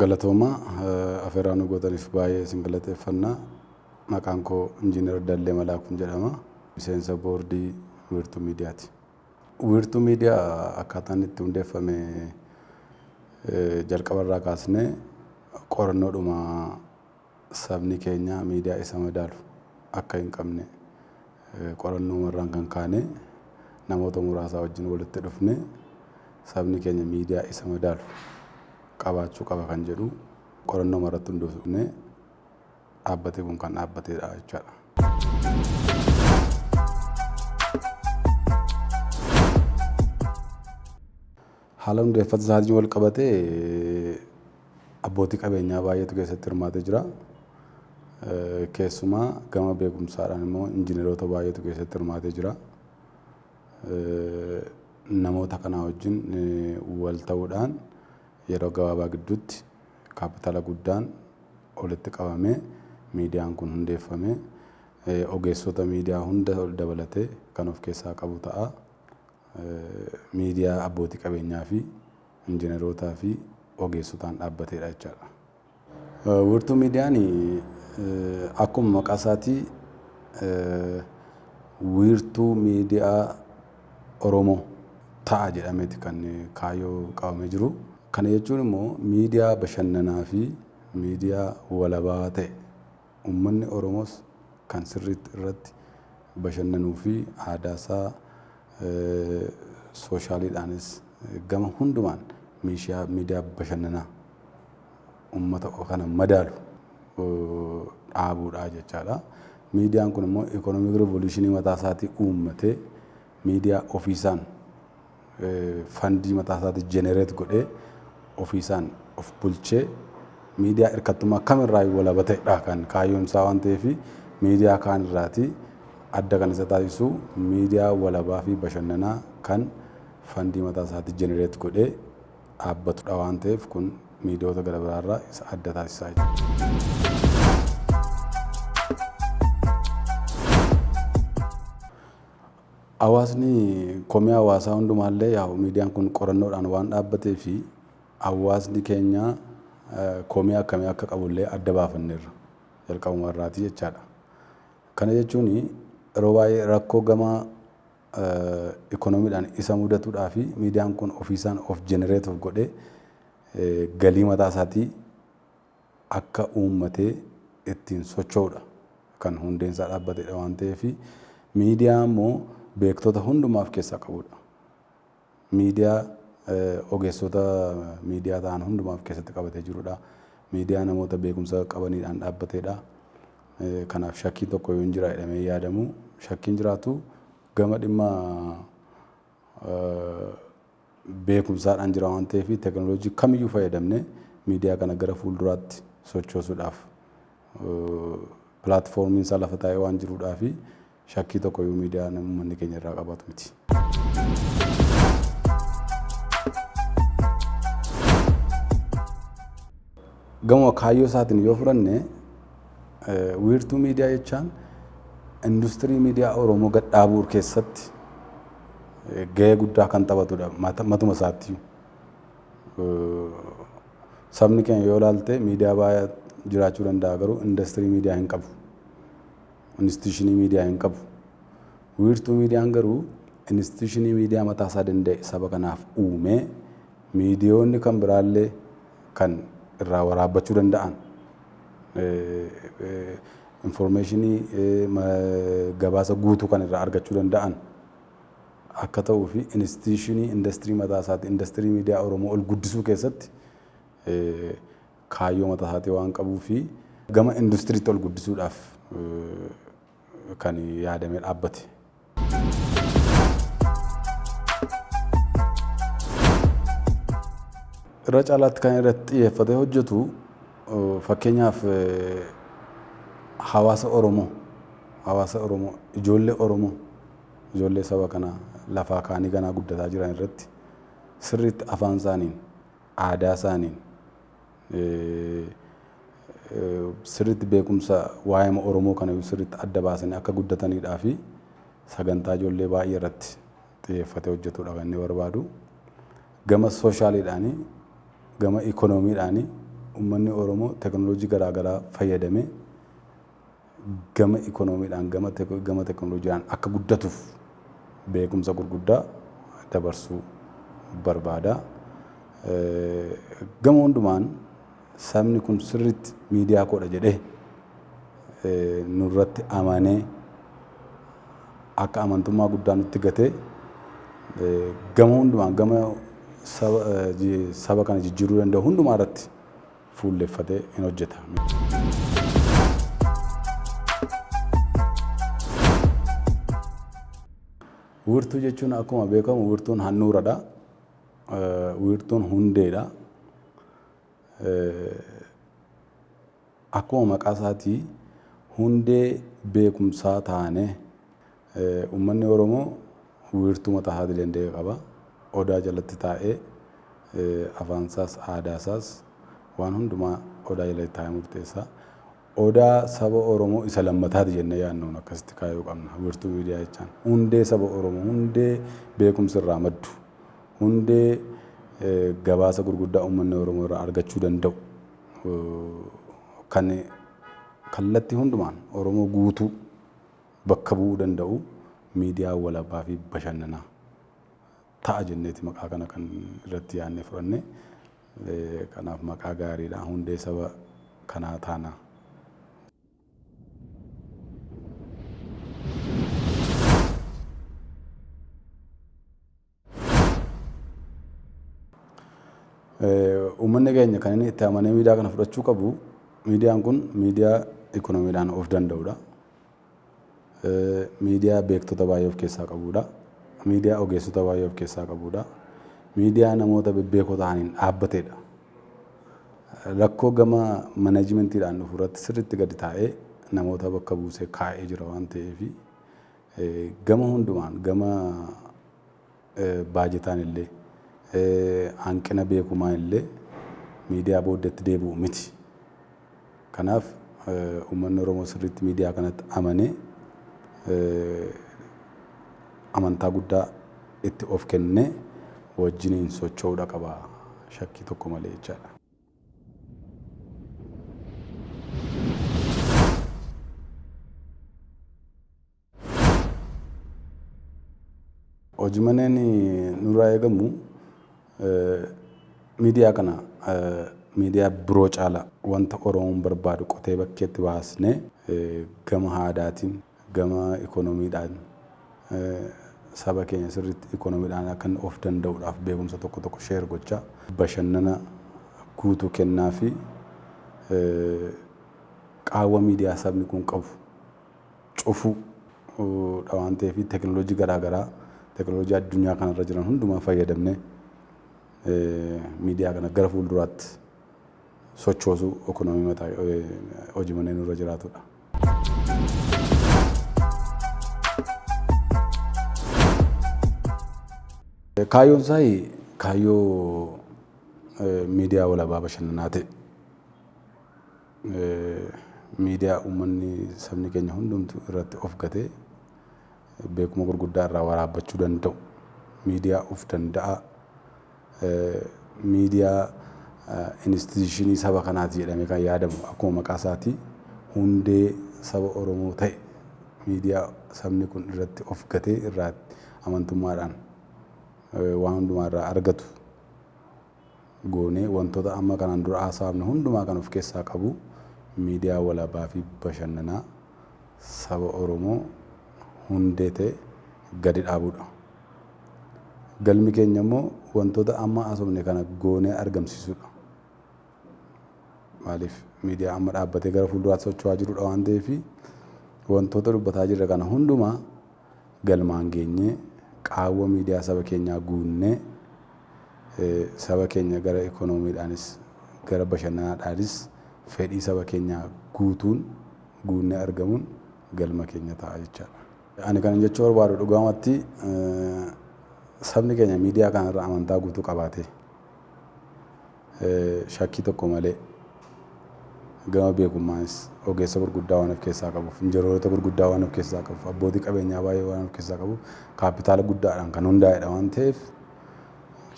Galatoomaa afeeraa nu gootaniif baay'ee isin galateeffannaa. Maqaan koo Injiinar Dallee Malaakuun jedhama. Miseensa boordii Wiirtuu Miidiyaati. Wiirtuu Miidiyaa akkaataan itti hundeeffame jalqabarraa kaasnee qorannoodhuma sabni keenya miidiyaa isa madaalu akka hin qabne qorannooma irraan kan kaanee namoota muraasaa wajjin walitti dhufnee sabni keenya miidiyaa isa madaalu qabaachuu qaba kan jedhu qorannooma irratti hundoofnee dhaabbatee kun kan dhaabbateedha jechaadha. Haala hundeeffata isaatiin walqabatee abbootii qabeenyaa baay'eetu keessatti hirmaatee jira. Keessumaa gama beekumsaadhaan immoo injineroota baay'eetu keessatti hirmaatee jira. Namoota kanaa wajjin wal ta'uudhaan yeroo gabaabaa gidduutti kaapitaala guddaan walitti qabamee miidiyaan kun hundeeffamee ogeessota miidiyaa hunda dabalatee kan of keessaa qabu ta'a. miidiyaa abbootii qabeenyaa fi injineerootaa fi ogeessotaan dhaabbateedha jechaadha. Wiirtuu miidiyaan akkuma maqaa isaatii wiirtuu miidiyaa Oromoo ta'a jedhameeti kan kaayyoo qabamee jiru. Kana jechuun immoo miidiyaa bashannanaa fi miidiyaa walabaa ta'e Uummanni Oromoos kan sirriitti irratti bashannanuu fi aadaa isaa sooshaaliidhaanis gama hundumaan miishiyaa miidiyaa bashannanaa uummata kana madaalu dhaabuudhaa jechaadha. Miidiyaan kun immoo ikoonomik revoluushinii mataa isaatii uummatee miidiyaa ofiisaan fandii mataa isaatii generate godhee ofiisaan of bulchee miidiyaa hirkattummaa kamirraa walaba ta'edha kan kaayyoon isaa waan ta'eef miidiyaa kaan irraatii adda kan isa taasisu miidiyaa walabaa fi bashannanaa kan fandii mataa isaatii generate godhee dhaabbatudha waan ta'eef kun miidiyoota gara biraarraa isa adda taasisaa jechuudha. Hawaasni komii hawaasaa hundumaa illee yaa'u miidiyaan kun qorannoodhaan waan dhaabbatee fi hawaasni keenya komii akkamii akka qabu illee adda baafanneerra jalqabuma irraati jechaadha. Kana jechuun yeroo baay'ee rakkoo gama ikoonomiidhaan isa mudatudhaa fi miidiyaan kun ofiisaan of generate of godhee galii mataa isaatii akka uummatee ittiin socho'udha. Kan hundeen isaa dhaabbatedha waan ta'eef. Miidiyaa immoo beektota hundumaa of keessaa qabudha. Miidiyaa ogeessota miidiyaa ta'an hundumaa of keessatti qabatee jirudha. Miidiyaa namoota beekumsa qabaniidhaan dhaabbatedha. Kanaaf shakkiin tokko yoo hin jira jedhamee yaadamu shakkiin jiraatu gama dhimma beekumsaadhaan jira waan ta'eef teknolojii kamiyyuu fayyadamnee miidiyaa kana gara fuulduraatti sochoosuudhaaf pilaatfoormiin isaa lafa taa'ee waan jiruudhaa fi shakkii tokkoyyuu miidiyaan uummanni keenya irraa qabaatu miti. Gama kaayyoo isaatiin yoo fudhanne wiirtuu miidiyaa jechaan industirii miidiyaa Oromoo gad dhaabuu keessatti gahee guddaa kan taphatudha matuma isaatti. Sabni keenya yoo ilaalte miidiyaa baay'ee jiraachuu danda'a garuu indastirii miidiyaa hin qabu. Inistitiyuushinii miidiyaa hin qabu. Wiirtuu miidiyaan garuu inistitiyuushinii miidiyaa mataa isaa danda'e saba kanaaf uumee miidiyoonni kan biraallee kan irraa waraabbachuu danda'an Infoormeeshinii gabaasa guutuu kan irraa argachuu danda'an akka ta'uu fi institishiinii indastirii mataa isaati indastirii miidiyaa Oromoo ol guddisuu keessatti kaayyoo mataa isaatii waan qabuu fi gama industiriitti ol guddisuudhaaf kan yaadamee dhaabbate. irra caalaatti kan irratti xiyyeeffatee hojjetu fakkeenyaaf hawaasa Oromoo hawaasa Oromoo ijoollee Oromoo ijoollee saba kanaa lafaa kaanii ganaa guddataa jiran irratti sirriitti afaan isaaniin aadaa isaaniin sirriitti beekumsa waa'eema Oromoo kana sirriitti adda baasanii akka guddataniidhaa fi sagantaa ijoollee baay'ee irratti xiyyeeffatee hojjetuudha kan inni barbaadu. Gama sooshaaliidhaanii, gama ikoonomiidhaanii uummanni Oromoo teknooloojii garaagaraa fayyadamee gama ikoonomiidhaan, gama teknolojiidhaan akka guddatuuf beekumsa gurguddaa dabarsuu barbaada. Gama hundumaan sabni kun sirriitti miidiyaa koodha jedhee nurratti amanee akka amantummaa guddaa nutti gatee gama hundumaan gama saba kana jijjiiruu danda'u hundumaa irratti fuulleffate in hojjeta. Wiirtuu jechuun akkuma beekamu wiirtuun handhuuradha. Wiirtuun hundeedha. Akkuma maqaa isaatii hundee beekumsaa taanee Uummanni Oromoo wiirtuu mataa isaatii danda'e qaba. Odaa jalatti taa'ee afaan isaas, aadaa isaas waan hundumaa Odaa jalatti taa'ee murteessa. Odaa saba Oromoo isa lammataati jennee yaadnuun akkasitti kaayuu qabna. Wiirtuu miidiyaa jechaan hundee saba Oromoo, hundee beekumsi irraa maddu, hundee gabaasa gurguddaa uummanni Oromoo irraa argachuu danda'u kan kallattii hundumaan Oromoo guutuu bakka bu'uu danda'u miidiyaa walabaa fi bashannanaa ta'a jenneeti maqaa kana kan irratti yaadne fudhanne. Kanaaf maqaa gaariidha. Hundee saba kanaa taana. Uummanni keenya kan inni itti amanee miidiyaa kana fudhachuu qabu miidiyaan kun miidiyaa ikoonomiidhaan of danda'udha. Miidiyaa beektota baay'ee of keessaa qabudha. Miidiyaa ogeessota baay'ee of keessaa qabudha. Miidiyaa namoota bebbeekoo ta'aniin dhaabbatedha. Rakkoo gama manajimentiidhaan dhufu irratti sirriitti gadi taa'ee namoota bakka buusee kaa'ee jira waan ta'eef Gama hundumaan gama baajetaan illee hanqina beekumaan illee miidiyaa booddatti deebi'u miti. Kanaaf uummanni Oromoo sirriitti miidiyaa kanatti amanee amantaa guddaa itti of kennee wajjiniin socho'uudha qaba shakkii tokko malee jechaadha. Hojii maneen nurraa eegamu miidiyaa kana miidiyaa biroo caalaa wanta Oromoon barbaadu qotee bakkeetti baasnee gama aadaatiin Gama ikonomiidhaan saba keenya sirriitti ikonomiidhaan akka inni of danda'uudhaaf beekumsa tokko tokko share gochaa, bashannana guutuu kennaafii, qaawwa miidiyaa sabni kun qabu cufuu dha waan ta'eef teknolojii garaa garaa teknolojii addunyaa kana irra jiran hundumaa fayyadamnee miidiyaa kana gara fuulduraatti sochoosuu ekonomii mataa hojii manneen irra jiraatudha. Kaayyoon isaa kaayyoo miidiyaa walabaa bashannanaa ta'e miidiyaa uummanni sabni keenya hundumtu irratti of gatee beekuma gurguddaa irraa waraabbachuu danda'u miidiyaa of danda'aa Miidiyaa Inistiitiyuushinii saba kanaati jedhamee kan yaadamu akkuma maqaa isaatii hundee saba Oromoo ta'e miidiyaa sabni kun irratti of gatee irraa amantummaadhaan waan hundumaa irraa argatu goonee wantoota amma kanaan dura haasaafne hundumaa kan of keessaa qabu miidiyaa walabaa fi bashannanaa saba Oromoo hundee ta'e gadi dhaabuudha. Galmi keenya immoo wantoota amma haasofne kana goonee argamsiisuudha. Maaliif miidiyaa amma dhaabbatee gara fuulduraatti socho'aa jirudha waan ta'eef wantoota dubbataa jirre kana hundumaa galmaan geenyee qaawwa miidiyaa saba keenyaa guunnee saba keenya gara ikoonomiidhaanis gara bashannanaadhaanis fedhii saba keenyaa guutuun guunnee argamuun galma keenya ta'a jechaadha. Ani kanin jechuu barbaadu dhugaamatti sabni keenya miidiyaa kana irra amantaa guutuu qabaatee shakkii tokko malee gama beekummaanis ogeessa gurguddaa waan of keessaa qabuuf injineroota gurguddaa waan of keessaa qabuuf abbootii qabeenyaa baay'ee waan of keessaa qabuuf kaappitaala guddaadhaan kan hundaa'edha waan ta'eef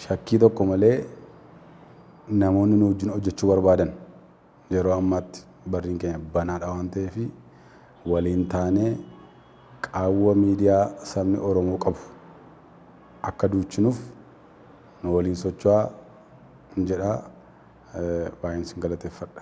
shakkii tokko malee namoonni nu wajjin hojjechuu barbaadan Yeroo ammaatti barriin keenya banaadha waan ta'eef waliin taanee qaawwa miidiyaa sabni Oromoo qabu akka duuchinuf nu waliin socho'aa hin jedha baay'een sin galateeffadha.